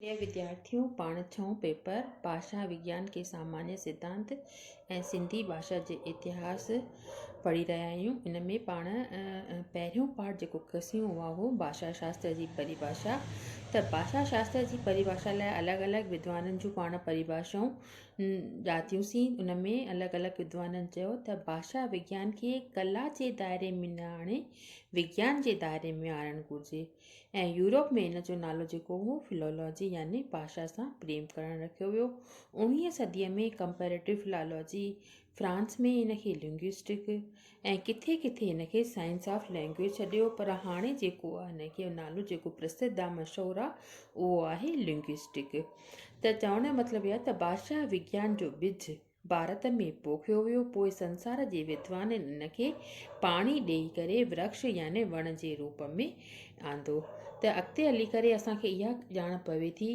اي وديارٿيو! پاڻ ڇهون پيپر ڀاشا وگيان ڪي سامانيه سڌانت ۽ سنڌي ڀاشا جي اتهاس پڙهي رهيا آهيون. ان ۾ پاڻ پهريون پارٽ جيڪو ڪسيون اها هو ڀاشا شاستر جي پريڀاشا. ته ڀاشا شاستر جي پريڀاشا لاء الڳ الڳ ودوانن جون پاڻ پريڀاشائون ڄاتيون سين. ان ۾ الڳ الڳ ودوانن چيو ته ڀاشا وگيان کي ڪلا جي دائري ۾ نه آڻي وگيان جي دائري ۾ آڻڻ گهرجي. ۽ يورپ ۾ ان جو نالو جيڪو هو Philology يعني ڀاشا سان پريم ڪرڻ رکيو ويو. اوڻويهين صديء ۾ Comparative Philology فرانس ۾ ان کي Linguistique ۽ ڪٿي ڪٿي ان کي Science of Language سڏيو پر هاڻي جيڪو ان کي نالو جيڪو پرسڌ آ مشهور آ اهو آهي Linguistique ته چوڻ جو مطلب اهي آ ته ڀاشا وگيان جو ٻج ڀارت ۾ پوکيو ويو، پوء سنسار جي ودوانن ان کي پاڻي ڏيئي ڪري ورڪش يعني وڻ جي روپ ۾ آندو ته اڳتي هلي ڪري اسان کي اها ڄاڻ پوي ٿي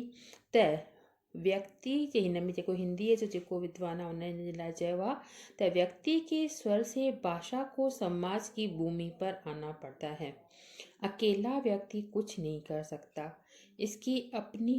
ته ويڪتي جي هن ۾ جيڪو هنديء جو جيڪو ودوان آهي ان جي لاء چيو آهي ته ويڪتي کي سور سي باشا کو سماج جي ڀومي پر آنا پڙتا هي اڪيلا ويڪتي ڪجهه نهي ڪر سگهتا اسڪي اپني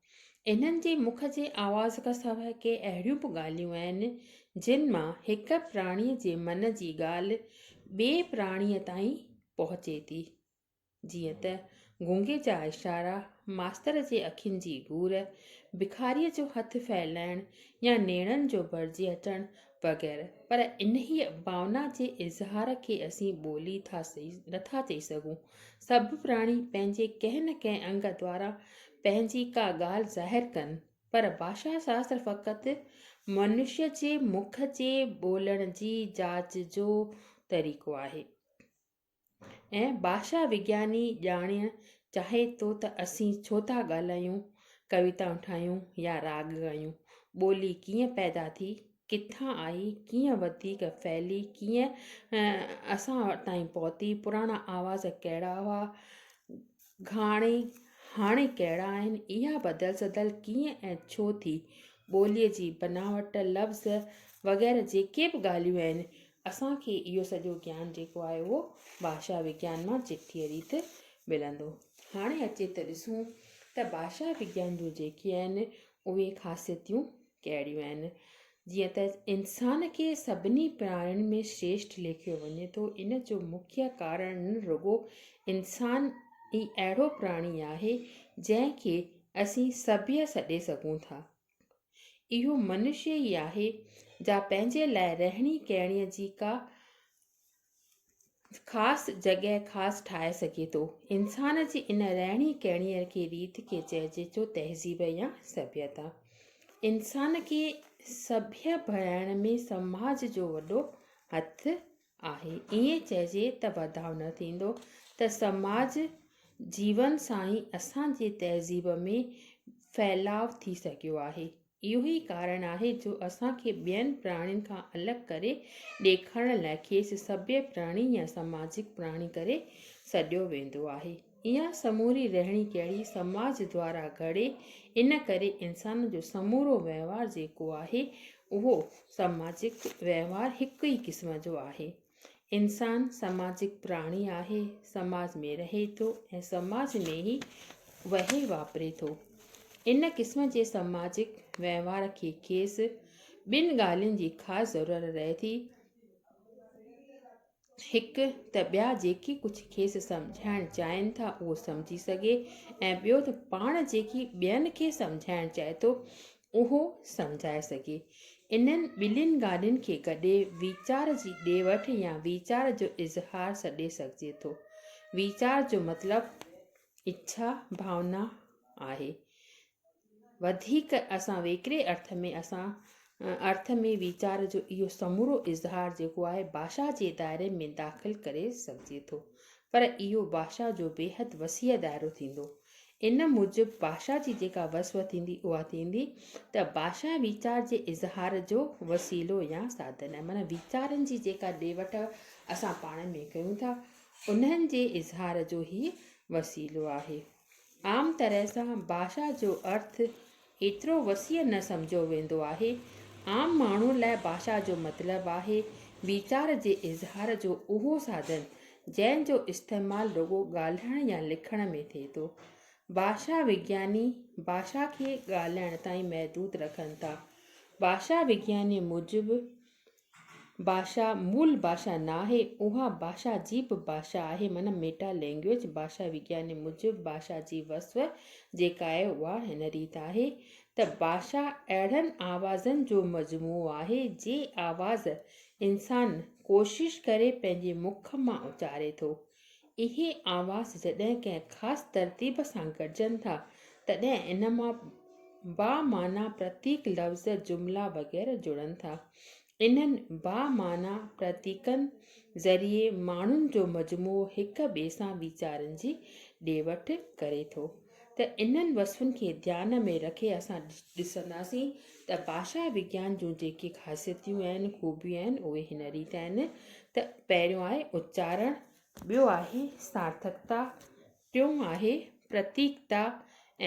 انهن جي مک جي آواز کان سواء ڪي اهڙيون به ڳالهيون آهن، جن مان هڪ پراڻيء جي من جي ڳالهه ٻئي پراڻيء تائين پهچي ٿي. جيئن ته گونگي جا اشارا، ماستر جي اکين جي گهور، بکاريء جو هٿ ڦهلائڻ يا نيڻن جو ڀرجي اچڻ وغيره پر انهيء ڀاونا جي اظهار کي اسين ٻولي ٿا نٿا چئي سگهون. سڀ پراڻي پنهنجي ڪنهن نه ڪنهن انگ دوارا پنهنجي ڪا ڳالهه ظاهر ڪن پر ڀاشا شاستر فقط منشي جي مک جي ٻولڻ جي جاچ جو طريقو آهي. ۽ ڀاشا وگياني ڄاڻڻ چاهي ٿو ته اسين ڇو ٿا ڳالهايون، ڪويتائون ٺاهيون يا راڳ ڳايون؟ ٻولي ڪيئن پيدا ٿي، ڪٿان آئي، ڪيئن وڌيڪ ڦهلي، ڪيئن اسان تائين پهتي، پراڻا آواز ڪهڙا هئا، گهاڻي، هاڻي ڪهڙا آهن، اها بدل سدل ڪيئن ۽ ڇو ٿي، ٻوليء جي بناوٽ، لفظ وغيره جيڪي به ڳالهيون آهن، اسان کي اهو سڄو گيان جيڪو آهي اهو ڀاشا وگيان مان چٽيء ريت ملندو. هاڻي اچي ته ڏسون ته ڀاشا وگيان جون جيڪي آهن اهي خاصيتيون ڪهڙيون آهن؟ جيئن ته انسان کي سڀني پراڻين ۾ شريشٺ ليکيو وڃي ٿو، ان جو مکيه ڪارڻ رڳو انسان ئي اهڙو پراڻي آهي، جنهن کي اسين سڀيء سڏي سگهون ٿا. اهو منشي ئي آهي، جا پنهنجي لاء رهڻي ڪهڻيء جي ڪا خاص جڳهه خاص ٺاهي سگهي ٿو. انسان جي ان رهڻي ڪهڻيء کي ريت کي چئجي ٿو تهذيب يا سڀيتا. انسان کي سڀيء بڻائڻ ۾ سماج جو وڏو هٿ آهي. ائين چئجي ته بداء نه ٿيندو ته سماج جيون سان ئي اسان جي تهذيب ۾ ڦهلاء ٿي سگهيو آهي. اهو ئي ڪارڻ آهي جو اسان کي ٻين پراڻين کان الڳ ڪري ڏيکارڻ لاء کيس سڀيئي پراڻي يا سماجڪ پراڻي ڪري سڏيو ويندو آهي. اها سموري رهڻي ڪهڙي سماج دوارا گهڙي ان ڪري انسان جو سمورو وهنوار جيڪو آهي اهو سماجڪ وهنوار هڪ ئي قسم جو آهي. انسان سماجڪ پراڻي آهي، سماج ۾ رهي ٿو ۽ سماج ۾ ئي وهي واپري ٿو. ان قسم جي سماجڪ وهنوار کي کيس ٻن ڳالهين جي خاص ضرورت رهي ٿي. هڪ ته ٻيا جيڪي ڪجهه کيس سمجهائڻ چاهين ٿا اهو سمجهي سگهي ۽ ٻيو ته پاڻ جيڪي ٻين کي سمجهائڻ چاهي ٿو اهو سمجهائي سگهي. انهن ٻنهين ڳالهين کي گڏي ويچار جي ڏي وٺ يا ويچار جو اظهار سڏي سگهجي ٿو. ويچار جو مطلب اڇا، ڀاونا، آهي. وڌيڪ اسان ويڪري ارٿ ۾ اسان ارٿ ۾ ويچار جو اهو سمورو اظهار جيڪو آهي ڀاشا جي دائري ۾ داخل ڪري سگهجي ٿو. پر اهو ڀاشا جو بيحد وسيع دائرو ٿيندو. ان موجب ڀاشا جي جيڪا وصف ٿيندي اها ٿيندي ته ڀاشا ويچار جي اظهار جو وسيلو يا ساڌن آهي معنيٰ ويچارن جي جيڪا ڏي وٺ اسان پاڻ ۾ ڪيون ٿا انهن جي اظهار جو هي وسيلو آهي عام طرح سان ڀاشا جو ارٿ ايترو وسيع نه سمجهيو ويندو آهي. عام ماڻهوء لاء ڀاشا جو مطلب آهي، ويچار جي اظهار جو اهو ساڌن، جنهن جو استعمال رڳو ڳالهائڻ يا لکڻ ۾ ٿئي ٿو. ڀاشا وگياني، ڀاشا کي ڳالهائڻ تائين محدود رکن ٿا. ڀاشا وگيانيء موجب، ڀاشا مول ڀاشا ناهي، اها ڀاشا جي به ڀاشا آهي، معنيٰ ميٽا لينگويج. ڀاشا وگياني موجب ڀاشا جي وصف جيڪا آهي اها هن ريت آهي ته ڀاشا اهڙن آوازن جو مجموعو آهي جي آواز انسان ڪوشش ڪري پنهنجي مک مان اچاري ٿو. اهي آواز جڏهن ڪنهن خاص ترتيب سان گڏجن ٿا، تڏهن ان مان بامعنيٰ پرتيڪ، لفظ، جملا وغيره جڙن ٿا. انهن بامعنيٰ پرتيڪن ذريعي ماڻهن جو مجموعو هڪ ٻئي سان ويچارن جي ڏي وٺ ڪري ٿو. ته انهن وصفن کي ڌيان ۾ رکي اسان ڏسنداسين ته ڀاشا وگيان جون جيڪي خاصيتيون آهن، خوبيون آهن، اهي هن ريت آهن ته پهريون آهي اچارڻ، ٻيو آهي سارٿڪتا، ٽيون آهي پرتيڪتا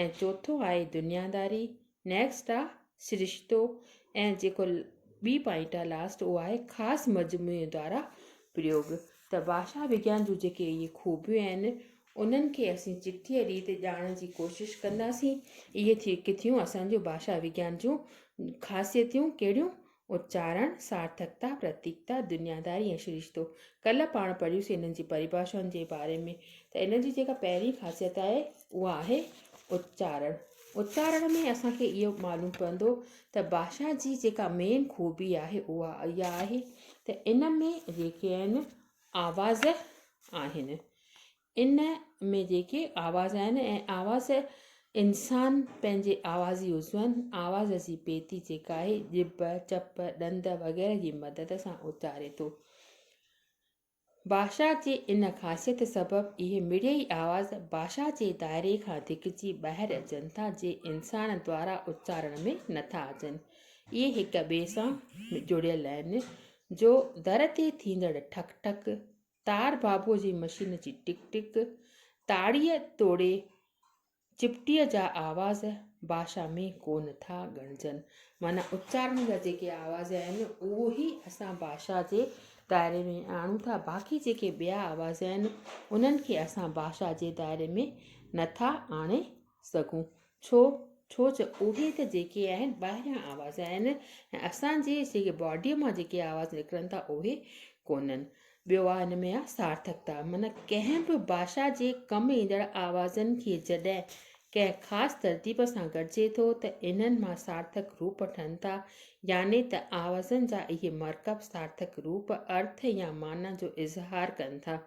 ۽ چوٿون آهي دنياداري نيڪسٽ آ سرشتو ۽ جيڪو ٻي پوائنٽ آ لاسٽ اهو آهي خاص مجموعي دوارا پريوگ ته ڀاشا وگيان جون جيڪي اهي خوبيون آهن انهن کي اسين چٽيء ريت ڄاڻڻ جي ڪوشش ڪنداسين اهي ٿي ڪٿيون اسان جون ڀاشا وگيان جون خاصيتيون ڪهڙيون اچارڻ، سارٿڪتا، پرتيڪتا، دنياداري ۽ شريشتو. ڪلهه پاڻ پڙهيوسين انهن جي پريڀاشائن جي باري ۾ ته انهن جي جيڪا پهرين خاصيت آهي اها آهي اچارڻ. اچارڻ ۾ اسان کي اهو معلوم پوندو ته ڀاشا جي جيڪا مين خوبي آهي اها اها آهي ته ان ۾ جيڪي آهن آواز آهن ان ۾ جيڪي آواز آهن ۽ آواز انسان پنهنجي آوازي عضون، آواز جي پيتي جيڪا آهي ڄڀ، چپ، ڏند وغيره جي مدد سان اچاري ٿو. ڀاشا جي ان خاصيت سبب اهي مڙيئي آواز ڀاشا جي دائري کان ڌڪجي ٻاهر اچن ٿا جي انسان دوارا اچارڻ ۾ نٿا اچن. اهي هڪ ٻئي سان جڙيل آهن جو در تي ٿيندڙ ٺڪ ٺڪ، تار بابوء جي مشين جي ٽڪ ٽڪ، تاڙيء توڙي چپٽيء جا آواز باشا ۾ ڪونه ٿا ڳڻجن. معنيٰ اچارڻ جا جيڪي آواز آهن، اهو ئي اسان باشا جي دائري ۾ آڻون ٿا، باقي جيڪي ٻيا آواز آهن، انهن کي اسان باشا جي دائري ۾ نه ٿا آڻي سگهون. ڇو؟ ڇو جو اهي ته جيڪي آهن ٻاهريان آواز آهن ۽ اسان جي جيڪي باڊيء مان جيڪي آواز نڪرن ٿا اهي ڪونهن. ٻيو آ ان ۾ آ سارٿڪتا من ڪنهن به باشا جي ڪم ايندڙ آوازن کي جڏهن ڪنهن خاص ترتيب سان گڏجي ٿو ته انهن مان سارٿڪ روپ ٺهن ٿا يعني ته آوازن جا اهي مرڪب سارٿڪ روپ، ارٿ يا معنيٰ جو اظهار ڪن ٿا.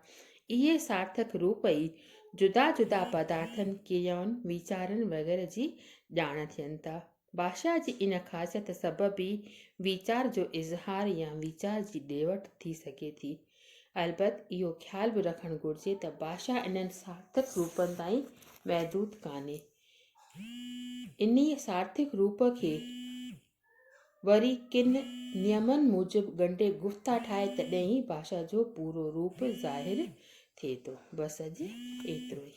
اهي سارٿڪ روپ ئي جدا جدا پدارٿن، ڪريائن، ويچارن وغيره جي ڄاڻ ٿين ٿا. ڀاشا جي ان خاصيت سبب ئي ويچار جو اظهار يا ويچار جي ڏي وٺ ٿي سگهي ٿي. البت اهو خيال به رکڻ گهرجي ته ڀاشا انهن سارٿڪ روپن تائين محدود ڪانهي. انهيء سارٿڪ روپ کي وري ڪن نيمن موجب ڳنڍي گفتا ٺاهي تڏهن ئي ڀاشا جو پورو روپ ظاهر ٿئي ٿو. بس اڄ ايترو ئي.